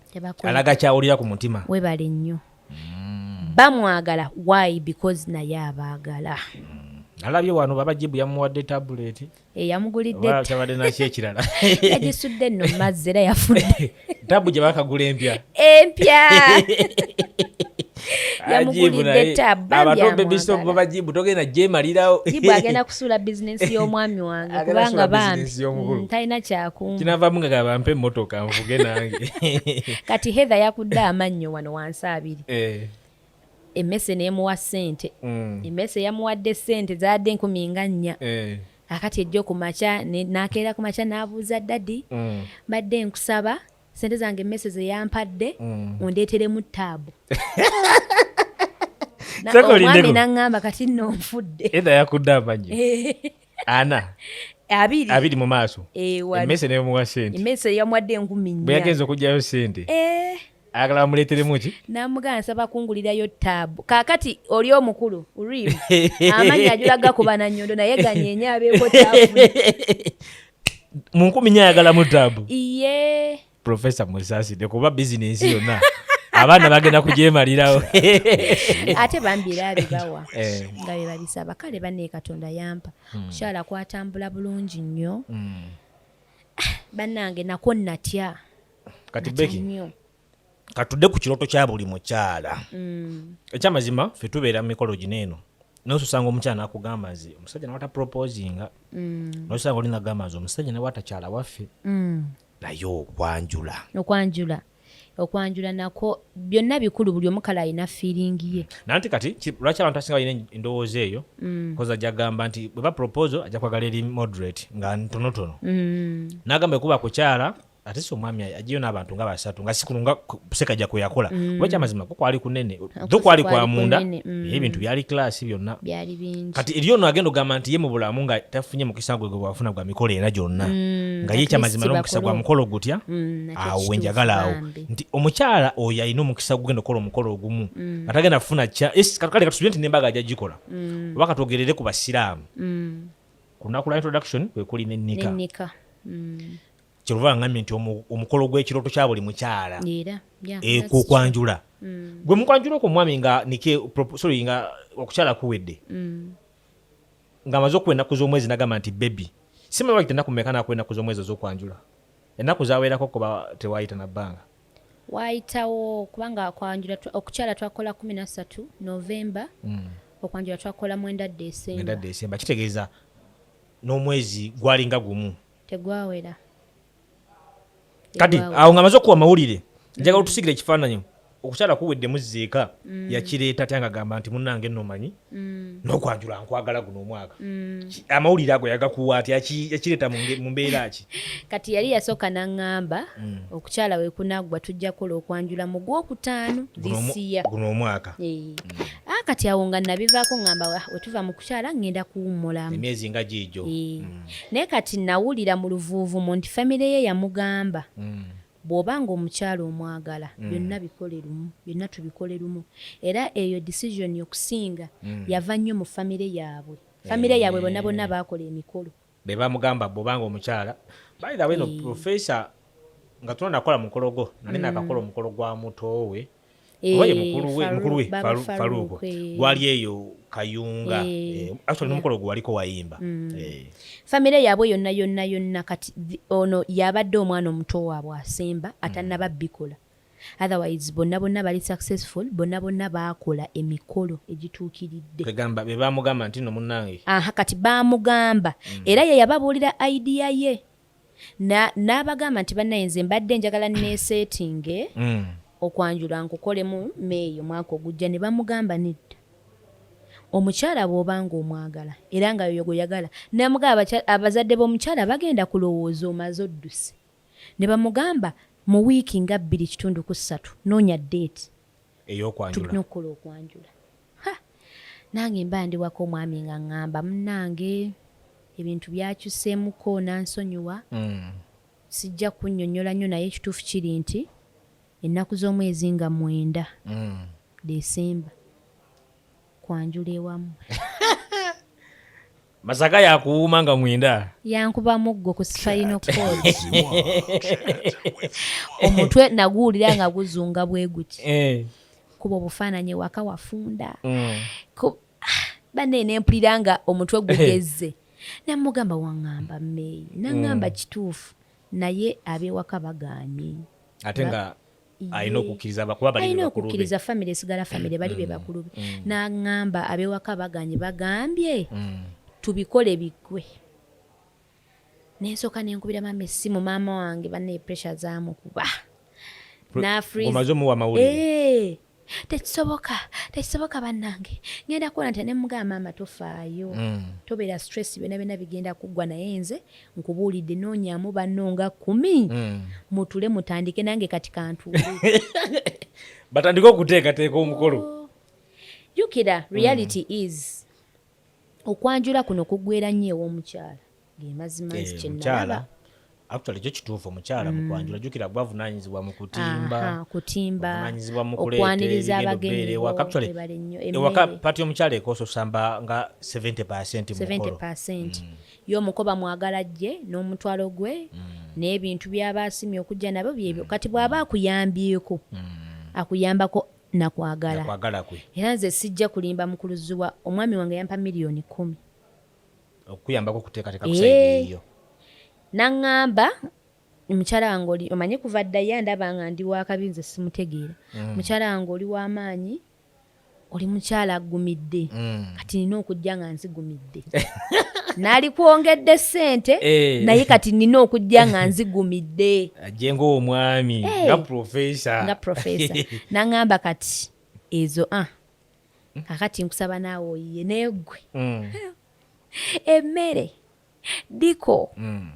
alaga kyawulira ku mutima webale nnyo hmm. bamwagala why because naye abaagala hmm. alabye wano baba jibu yamuwadde tabuleti eyamugulidde tabadde naki ekirala yagisudde nno mazzi era yafudde tabu gye bakagula empya empya yamuguliddetabajibu togenda jemalirawo jibu agenda kusuula bizinesi y'omwami wange kubanga bambi mm, talina kyakunga kinavamu nga gabampe emotoka nvuge nange kati heather yakudde amannyo wano wansi abiri eh. emmese n'emuwa ssente. Emmese yamuwadde ssente zaadde enkumi nga nnya. Kaakati ejjo ku makya n'akeera ku makya n'abuuza dadi, mbadde nkusaba ssente zange emmese ze yampadde ondeeteremu ttaabu. omwami n'aŋŋamba kati nno nfudde. Edda yakudde amannyo ana abiri abiri mu maaso emmese n'emuwa ssente. Emmese yamuwadde enkumi nnya. Bwe yagenze okuggyayo ssente. ayagala bamuleeteremu ki namugaa nsaba kungulirayo taabu kaakati oli omukulu rim amanyi ajula gakuba na nyondo naye ganyenye abeeko taabu mu nkumi nyo ayagalamu taabu iye profesa musaside kuba bizinensi yonna abaana bagenda kugyemalirawo ate bambi era abibawa eh. nga bebabisaba kale bane katonda yampa hmm. kukyala kwatambula bulungi nnyo hmm. bannange nako natya kati beki katudde ku kiroto kya buli mukyala mm. ekyamazima fe tubeera mu mikolo gino eno naye osanga omukyala nakugamba nze omusajja nawata proposinga mm. nosanga oli nagamba nze omusajja nawe atakyala waffe mm. naye okwanjula okwanjula okwanjula nako byonna bikulu buli omukala alina fiiringi ye nanti kati lwaki abantu asinga balina endowooza eyo mm. koza ajja kugamba nti bweba proposal ajja kwagala eri moderate nga ntonotono mm. nagamba ekuba kukyala ate si omwami ajiyo n'abantu nga basatu nga sikulu nga sekajja kwe yakola mm. kuba kyamazima ko kwali kunene tho kwali kwa munda mm. ebintu byali kilasi byonna kati eri ono agenda ogamba nti ye mu bulamu nga tafunye mukisa gwe gwe bwafuna gwa mikolo era gyonna mm, nga ye kyamazima n'omukisa gwa mukolo gutya awo wenjagala awo nti omukyala oyo alina omukisa gugenda okukola omukolo ogumu nga tagenda kufuna kya kale katusubire nti nembaga ajja gikola oba katwogerere ku basiraamu ku lunaku lwa introduction kwe kuli ne nika kyova ngambye nti omukolo gw'ekirooto kya buli mukyala ekukwanjula eh, mm. gwe mukwanjula okwo omwami nga nike sorry nga okukyala kuwedde mm. nga amaze okuwa ennaku z'omwezi nagamba nti bebi simanyi wakita ennaku meka nakuwa ennaku z'omwezi ez'okwanjula ennaku zawerako kuba tewayita na bbanga waayitawo kubanga akwanjula okukyala twakola kumi nasatu novemba mm. okwanjula twakola mwenda desemba kitegeeza n'omwezi gwalinga gumu tegwawera kati awo nga amaze okuwa amawulire mm. njagala otusigira ekifaananyi okukyala kuwedde muzeeka mm. yakireeta atya nga gamba nti munange nomanyi mm. nokwanjula nkwagala guno omwaka amawulire ago yagakuwa ati yakireeta mu mbeera ki kati yali yasooka naŋŋamba okukyala wekunaggwa tujja kukola okwanjula mu gwokutaano disiya guno omwaka ah, kati awo nga nabivaako ŋŋamba ah, wetuva mu kukyala ŋŋenda kuwummulamu emyezi nga giijo Naye kati nawulira mu luvuuvumo nti famire ye yamugamba mm. bw'oba ng'omukyala omwagala mm. byonna bikole lumu byonna tubikole lumu era eyo decision okusinga mm. yava nnyo mu famire yaabwe famire yaabwe bonna eh. bonna baakola emikolo be bamugamba bw'oba ng'omukyala bayirawe no eh. profesa nga tunakola mukolo gwo nali nakakola omukolo gwa mutoowe oba ye eh, mukulu we faluuko gwali eyo kayunga eh. Eh, actually nomukolo gwe waliko wayimba mm. famire yaabwe yonna yonna yonna kati ono yabadde omwana omuto waabwe asemba mm. atanaba bikola otherwise bonna bonna bali successful bonna bonna baakola emikolo egituukiridde egamba be bamugamba nti no munnange aha kati baamugamba mm. era ye yababuulira idea ye n'abagamba nti bannaye nze mbadde njagala neeseetinge mm. okwanjula nkukolemu meeyo mwaka ogujja ne bamugamba nedda omukyala bw'oba ng'omwagala era nga yoyo gwe yagala namugamba abazadde b'omukyala bagenda kulowooza omaze odduse ne bamugamba mu wiiki nga bbiri kitundu ku ssatu noonya deeti ey'okwanjula tulina okukola okwanjula nange mba ndiwako omwami nga ŋŋamba munnange ebintu byakyuseemuko nansonyiwa mm. sijja kunnyonnyola nnyo naye ekituufu kiri nti ennaku z'omwezi nga mwenda mm. desemba kwanjula ewamu masaka yakuwuuma nga mwenda yankuba muggo ku sifayino koti omutwe naguwulira nga guzunga bwe guti eh. kuba obufaananyi ewaka wafunda mm. ah, bane nempulira nga omutwe gugezze namugamba waŋŋamba meeyi naŋŋamba mm. kituufu naye abewaka baganye ate nga alina okukkiriza bakuba balina okukkiriza famire esigala famire bali be mm. bakulu be mm. n'aŋŋamba abewaka baganye bagambye mm. tubikole biggwe nensooka nenkubira maama essimu maama wange banne pressure zamukuba nafrize omuwa amawulire eh, tekisoboka tekisoboka bannange ngenda kukola nti nemugamba maama tofaayo mm. tobeera stress byona byona bigenda kuggwa naye nze Nkubuulidde noonyaamu banno nga kkumi hmm. mutule mutandike nange kati kantuule batandike okuteekateeka omukolo oh. jukira hmm. reality is okwanjula kuno kuggwera nnyo ew'omukyala ge mazima nzi eh, kyenalaba actually kyo kituufu omukyala mm. mukwanjula jukira gwe avunanyizibwa mu kutimba kutimba avunanyizibwa mu kuleeta abagenyi actually ewaka pati omukyala ekososamba nga 70 percent mukolo 70 percent mm. Ye omuko bamwagala ajje n'omutwalo gwe n'ebintu by'aba asimye okujja nabyo byebyo. Kati bw'aba akuyambyeko akuyambako na kwagala. Nakwagala kwe. Era nze sijja kulimba Mukulu Zziwa, omwami wange yampa million kkumi. Okukuyambako okuteekateeka ku side Eeh. eyiyo. N'ang'amba mukyala wange oli omanyi kuva dda ye andaba nga ndi wa kabi nze simutegeera. Mukyala wange oli wa maanyi. oli mukyala aggumidde mm. kati nina okujja nga nzigumidde nalikwongedde sente eh. naye kati nina okujja nga nzigumidde ajje ngaomwami eh. nga profesa nga profesa naŋamba kati ezo a ah, kakati nkusaba naawe oyiye naye ggwe mm. emmere diko mm.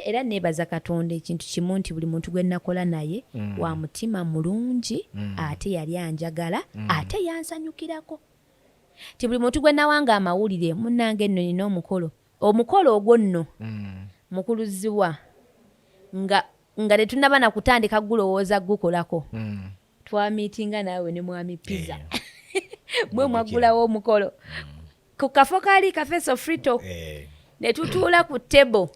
era nebaza katonda ekintu kimu nti buli muntu gwenakola naye mm. wa mutima mulungi mm. ate yali anjagala mm. ate yansanyukirako ti buli muntu gwenawanga amawulire munange enno nina omukolo omukolo ogwo nno mm. mukuluziwa nga nga tetunaba nakutandika gulowooza gukolako mm. twamitinga naawe ne mwami pizza eh. mwe mwaggulawo omukolo mm. ku kafo kaali kafeso frito eh. ne tutuula ku table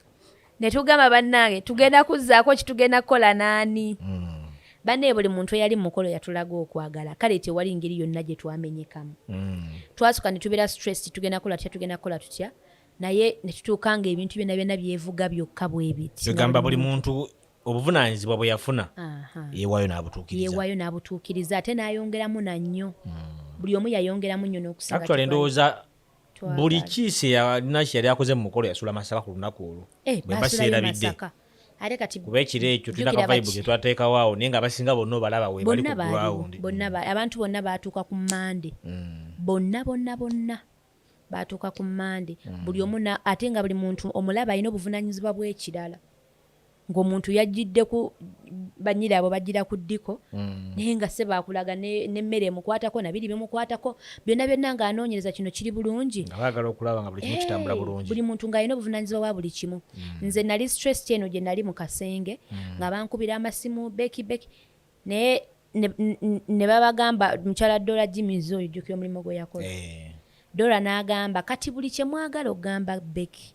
ne tugamba bannange tugenda kuzzaako kitugenda kukola naani mm. bannaye buli muntu eyali mumukolo yatulaga okwagala kale tewali ngeri yonna gye twamenyekamu mm. twasuka ne tubeera stress tugenda kukola tutya tugenda kukola tutya naye ne tutuuka nga ebintu byonna byonna byevuga byokka bwebitgamba buli muntu obuvunaanyizibwa bwe yafuna yeewaayo n'abutuukiriza yeewaayo n'abutuukiriza ate n'ayongeramu na nnyo hmm. buli omu yayongeramu nnyo n'okusinga endowooza buli kiisi yalina yali akoze mu mukolo yasula masaka ku lunaku olwo eh, bwe mba seerabidde kuba ekiro ekyo tulina kavaibu ke twateekawo awo naye nga abasinga bonna obalaba we bali ku gurawundi abantu bonna baatuuka ku mande hmm. bonna bonna bonna baatuuka ku mande hmm. buli omu ate nga buli muntu omulaba alina obuvunanyizibwa bw'ekirala ng'omuntu yajjidde ku banyira abo bajjira ku ddiko mm. naye nga se bakulaga n'emmere emukwatako nabiri bimukwatako byonna byonna ng'anoonyereza kino kiri bulungi buli muntu ng'alina obuvunanyizibwa bwa buli kimu mm. nze nali stress eno gye nali mu kasenge mm. nga bankubira amasimu beki beki naye ne babagamba mukyala dola jimizi oyo jjukira omulimu gwe yakola eh. dola n'agamba kati buli kye mwagala okugamba beki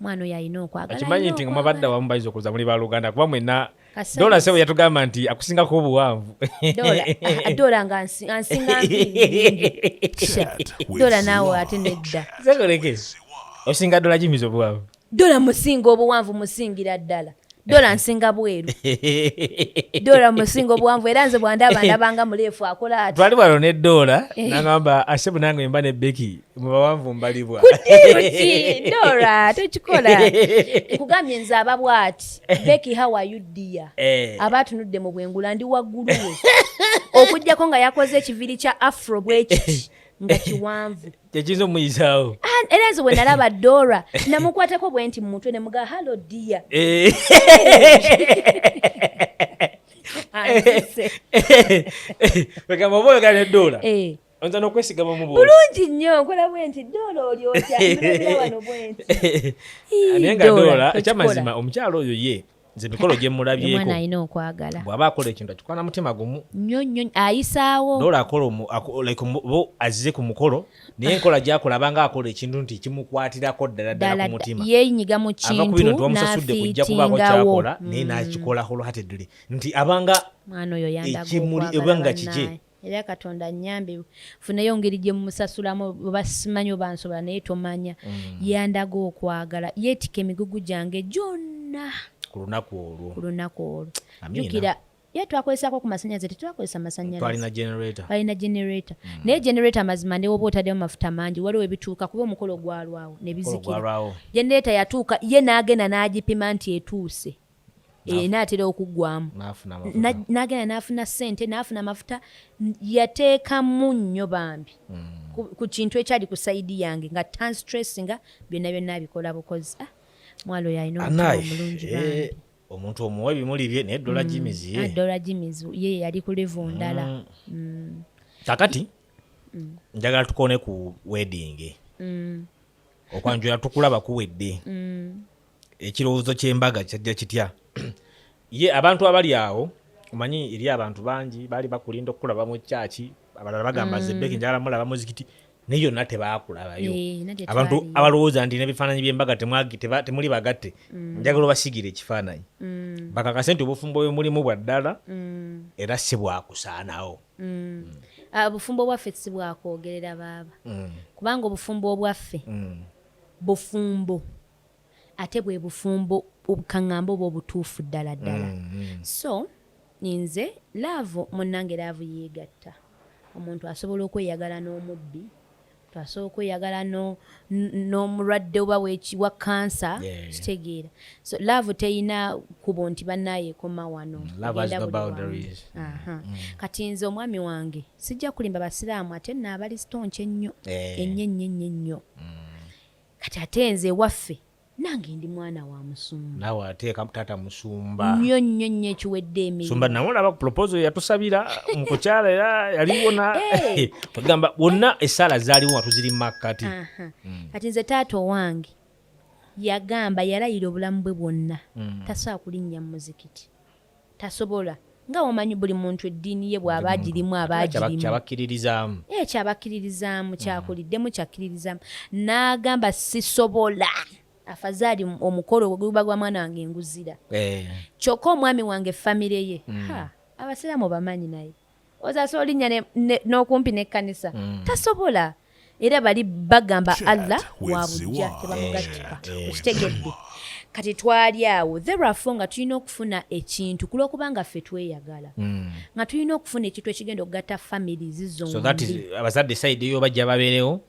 mwana oyo alina okwagalakimanyi nti nga mwabadde awamu bayinza okuza muli baluganda kuba mwena dola sebo yatugamba nti akusingako obuwanvu dola nga ansinga dola naawe ate nedda osinga dola jimiza obuwanvu dola musinga obuwanvu musingira ddala dola nsinga bweru dola musinga obwanvu era nze bwandaba ndabanga muleefu akola ati twali wano ne dola eh. nagamba ase bunange mba ne beki mubawanvu mbalibwa kudiruki dola tokikola nkugambye nze aba bwati beki how are you dear eh. aba atunudde mu bwengula ndi waggulu we okujjako nga yakoze ekiviri kya afro bwekiti nga kiwanvu kyekiyinza omuyizaawo ah, era nze wenalaba dora namukwatako bwe nti mumutwe nemuga hallo dia eh. wegamba oba oyogala ne dora eh. oyinza nokwesigama mu bulungi nnyo nkola bwe nti dora oli otya wano bwe nti naye nga dora ekyamazima omukyalo oyo ye nze emikolo gye mulabyeko alina okwagala bw'aba akola ekintu akikwana mutima gumu nnyo nnyo ayisaawo doola akola like bo azze ku mukolo naye enkola gyakola abanga akola ekintu nti kimukwatirako ddala ddala ku mutima yeenyiga mu kintu ava ku bino nti wamusasudde kujja kubaako kyakola naye mm. n'akikola wholeheartedly nti abanga mwana oyo yandagaekimuli ebanga kije era katonda anyambe funeyo ngeri gyemumusasulamu oba simanyi oba nsobola naye tomanya mm. yandaga okwagala yeetika emigugu gyange gyonna ku lunaku olwo ku lunaku olwo jukira ye twakozesako ku masannyalaze tetwakozesa masannyalazealina generator mm. naye generator mazima newoba otaddemu mafuta mangi waliwo ebituuka kuba omukolo gwalwawo nebizikira generator yatuuka ye n'agenda n'agipima nti etuuse eh, naatera okuggwamu nagenda naafuna sente naafuna amafuta yateekamu nnyo bambi hmm. ku kintu ekyali ku saidi yange nga tanstressinga byonna byonna abikola bukozi ah, mwalo yalina omulungi eh, omuntu omuwa ebimuli bye naye dola jimizi hmm. ah, dola jimizi ye yali ku levu ndala hmm. kakati njagala tukone ku wedding okwanjula tukulaba kuwedde mm. ekirowoozo ky'embaga kyajja kitya ye abantu abali awo omanyi eri abantu bangi baali bakulinda okukulaba mu kyaki abalala bagamba mm. zebeki njagala mulaba muzikiti naye yonna tebaakulabayo eh, abantu abalowooza nti nebifaananyi byembaga temuli bagatte mm. njagala obasigire ekifaananyi mm. bakakase nti obufumbo bwe mulimu bwa ddala era si bwakusaanawo Mm. Ah, obufumbo bwaffe si bwakwogerera baaba mm. kubanga obufumbo obwaffe mm. bufumbo ate bwe bufumbo obukaŋŋamba oba obutuufu ddala ddala so nze laavu munnange laavu yeegatta omuntu asobola okweyagala n'omubbi twasobola okweyagala n'omulwadde oba wa kansa kitegeera so laavu teyina kubo nti banaayo ekoma wano mm, mm. kati nze omwami wange sijja kulimba basiraamu ate naabalistonki ennyo eh. ennyo ennyo ennyo ennyo mm. kati ate nze ewaffe nange ndi mwana wa musumba nawe ateeka taata musumba nnyo nnyo nnyo ekiwedde emisumba nawe olaba proposal yatusabira mukukyala era yaliwona eh. ogamba wonna esaala zaaliwo nga tuziri makkati mm. kati nze taata owange yagamba yalayira obulamu bwe bwonna mm. tasobola kulinnya mu muzikiti Tasobola. Nga wamanyi buli muntu eddiini ye bw'aba agirimu aba agirimu. Kyabakkiririzaamu. Ee kyabakkiririzaamu mm. kyakuliddemu kyakkiririzaamu. N'agamba sisobola. Afazaali omukolo gwe guba gwa mwana wange nguzira. Eh. Kyokka omwami wange famire ye. Mm. Ha abasiraamu bamanyi naye. ozasa olinnya n'okumpi n'ekkanisa mm. tasobola era bali bagamba allah wabujja tebamugattika okitegedde kati twali awo therefo nga tulina okufuna ekintu kulwokuba nga ffe tweyagala mm. nga tulina okufuna ekintu ekigenda okugatta famili zizonabazadde saidi yo bajja babeerewo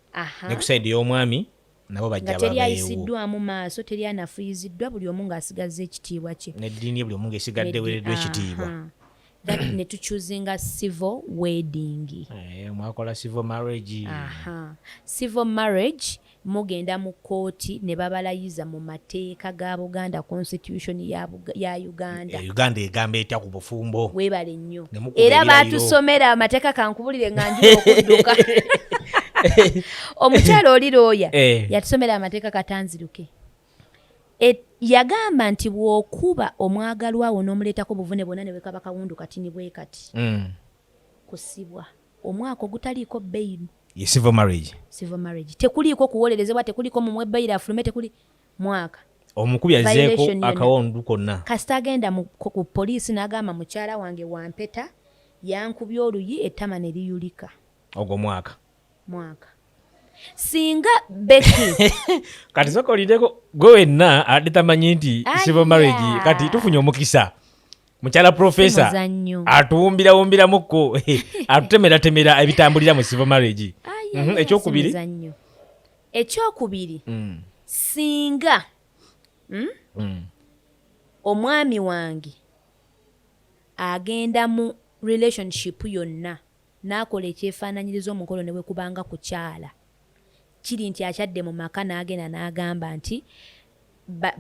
ne ku saidi y'omwami nabo bajja nga teri ayisiddwamu maaso teri anafuyiziddwa buli omu ng'asigazza ekitiibwa kye neddiini buli omu ng'esigadde weereddwa ekitiibwa that ne tuchuzinga civil wedding eh, mwakola civil marriage aha civil marriage mugenda mu kkooti ne babalayiza mu mateeka ga buganda constitution ya ya uganda eh, uganda egamba etya ku bufumbo webale nnyo era batusomera amateeka kankubulire nga nji okudduka omukyala oli looya eh. yatusomera amateeka katanziruke yagamba nti bwokuba omwagalwawo nomuleetako obuvune bwona newekaba kawundu kati nibwekati mm. kusibwa omwaka ogutaliiko beyini tekuliiko kuwolerezebwa tekuliiko mumwebayiro afulume tekuli mwaka omukubi azeeko akawundu konna kasita agenda ku poliisi n'agamba mukyala wange wampeta yankubya oluyi ettama ne liyulika ogwo mwaka mwaka singa beki kati sokolideko gwe wenna ade tamanyi nti civil marriage kati tufunye omukisa mukyala profesa atuwumbirawumbiramuko atutemeratemera ebitambulira mu civil marriage mhm, ekyokubiri ekyokubiri mm. singa mm, mm. omwami wange agenda mu relationship yonna n'akola ekyefaananyiriza omukolo ne bwe kubanga kukyala kiri nti akyadde mu maka n'agenda n'agamba nti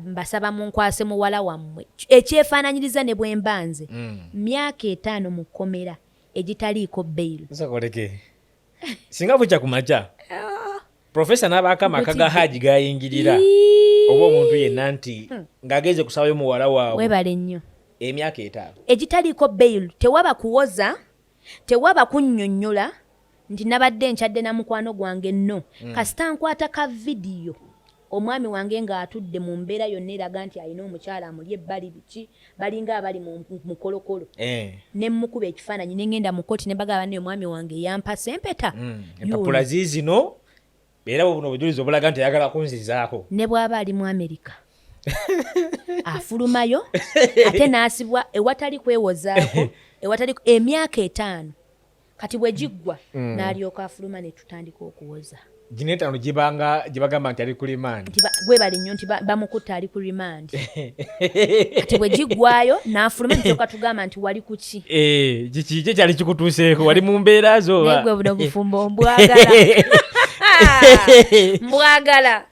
mbasaba munkwase muwala wammwe ekyefaananyiriza ne bwe mba nze mm. myaka etaano mu kkomera egitaliiko beyiro singa bukya ku makya ah. profesa n'abaako amaka ga haaji gayingirira oba omuntu yenna nti hmm. ng'agenze kusabayo muwala waabwe webale nnyo emyaka etaano egitaliiko bail tewaba kuwoza tewaba kunnyonnyola nti nabadde nkyadde na mukwano gwange no hmm. kasita nkwata ka vidiyo Omwami wange ng'atudde mu mbeera yonna eraga nti alina omukyala amuli ebbali biki, balinga abali mu mukolokolo ne mmukuba ekifaananyi ne ng'enda mu kkooti ne mbagala banne omwami wange eyampasa empeta. Empapula ziizino era buno obujulizi obulaga nti ayagala kunzizaako. Ne bw'aba ali mu Amerika afulumayo ate n'asibwa ewatali kwewozaako ewatali emyaka etaano. kati bwe giggwa mm. n'alyoka afuluma ne tutandika okuwoza gino etaano gye bagamba nti ali ku rimandi gwe bali nnyo nti bamukutta ali ku rimandi kati bwe giggwayo n'afuluma nityoka tugamba nti wali ku ki eh, kiki kye kyali kikutuuseeko wali mu mbeera zo naye gwe buno bufumbo mbwagala mbwagala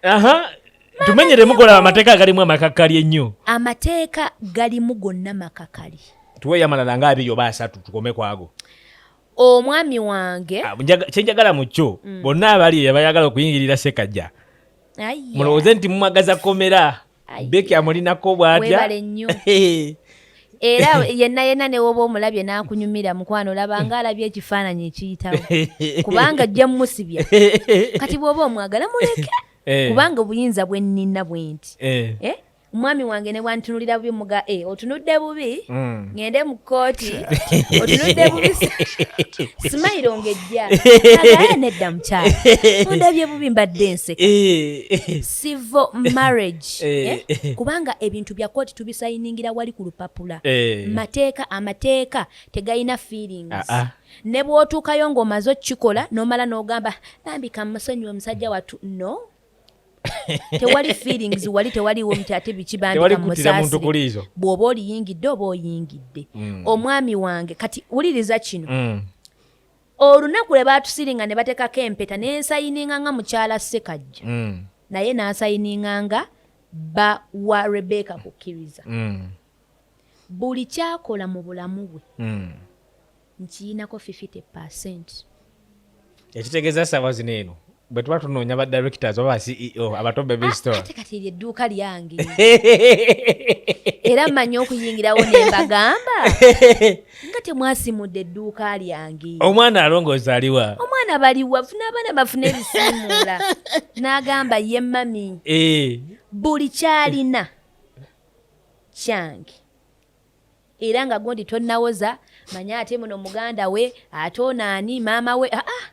tumenyeremu gola amateeka agalimu amakakali ennyo amateeka galimu gonna makakali tuweyo amalala nga abiri oba asatu tukome kwago omwami wange ah, kyenjagala mu kyo mm. bonna abali eyo abayagala okuyingirira sekajja mulowooze nti mumwagaza komera beki amulinako bwatya era yenna yenna newoba omulabye n'akunyumira mukwano olabanga alabye ekifaananyi ekiyitawo kubanga ajja mumusibya kati bw'oba omwagala muleke eh. kubanga obuyinza bwennina bwenti eh. eh? omwami wange ne bwantunulira bubi muga e otunudde bubi mm. ngende mu kkooti otunudde bubi simayiro ngejja agaye nedda mukyala ondabye bubi mbadde enseka civil marriage kubanga ebintu bya kkooti tubisayiningira wali ku lupapula mateeka amateeka tegalina feelings ah, ah. ne bw'otuukayo ng'omaze okukikola n'omala n'ogamba bambi kamusonyiwa omusajja wattu no tewali feelings wali tewaliwo nti ate bikibandika musaasire bw'oba oliyingidde oba oyingidde mm. omwami wange kati wuliriza kino mm. olunaku lwe baatusiringa ne bateekako empeta ne nsayininga nga mukyala ssekajja mm. naye n'asayininga nga ba wa rebeka kukkiriza buli kyakola mu bulamu bwe hmm. nkiyinako 50 percent ekitegeeza saawa zino eno bwe tuba tunoonya ba directors oba ba ceo abatombe bistore ah, kati eryo edduuka lyange era mmanyi okuyingirawo ne mbagamba nga temwasimudde edduuka lyange omwana alongooza aliwa omwana baliwa funa abaana bafuna ebisimuula n'agamba ye mami eh. buli kyalina kyange era nga gundi tonawoza manya ate muno muganda we ate onaani maama we aa ah, ah.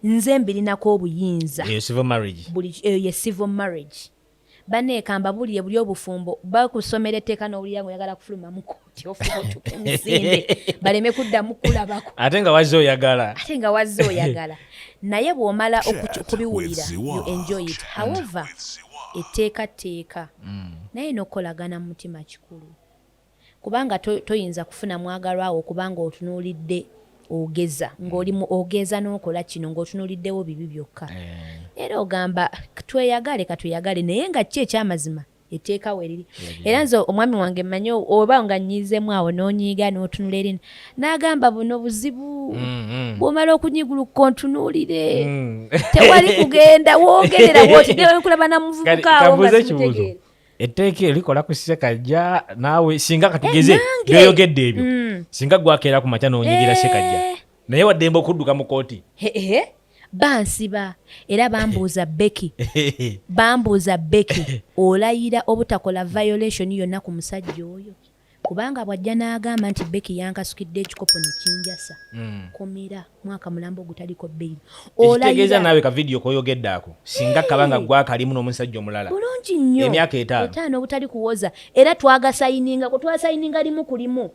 nze mbirinako obuyinza eyo ye civil marriage eh, baneekamba bulire buli obufumbo bakusomera etteeka n'owulira nga oyagala kufuluma mu kooti ofuutuka emisinde baleme kuddamu kulabako ate nga wazze oyagala ate nga wazze oyagala naye bw'omala okubiwulira you enjoy it however etteeka tteeka mm. naye n'okukolagana mu mutima kikulu kubanga toyinza kufuna mwagalwawo kubanga otunuulidde ogeza ng'oli mu ogeza n'okola kino ng'otunuuliddewo bibi byokka eh. era ogamba tweyagale katweyagale naye nga ki ekyamazima eteeka weriri era nze omwami wange mmanyi oba nga nyiizemu awo n'onyiiga n'otunula erin n'agamba buno buzibu mm-hmm. bwomala okunyiguluka ontunuulire mm. tewali kugenda wogerera wotidewekulaba na muvubuka awo nga simutegeera etteeka erikola ku sekajja naawe singa katugeze eh, byoyogedde ebyo mm. singa gwakeera ku makya n'onyigira eh. sekajja naye waddembe okudduka mu kooti bansiba era bambuuza beki bambuuza beki olayira obutakola violation yonna ku musajja oyo kubanga bwajja n'agamba nti beki yankasukidde ekikopo nekinjasa hmm. kumira mwaka mulambo ogutaliko bbeiri ekitegeeza naawe ka vidiyo koyogedde ako singa kabanga gwakalimu n'omusajja omulala bulungi nnyo emyaka etaano obutali kuwoza era twagasayininga kwe twasayininga limu ku limu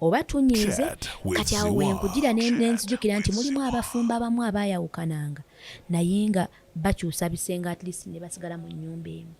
oba tunyiize kati awo wenkujira nenzijukira nti mulimu abafumbo abamu abayawukananga naye nga bakyusa bisenge at least nebasigala mu nyumba emu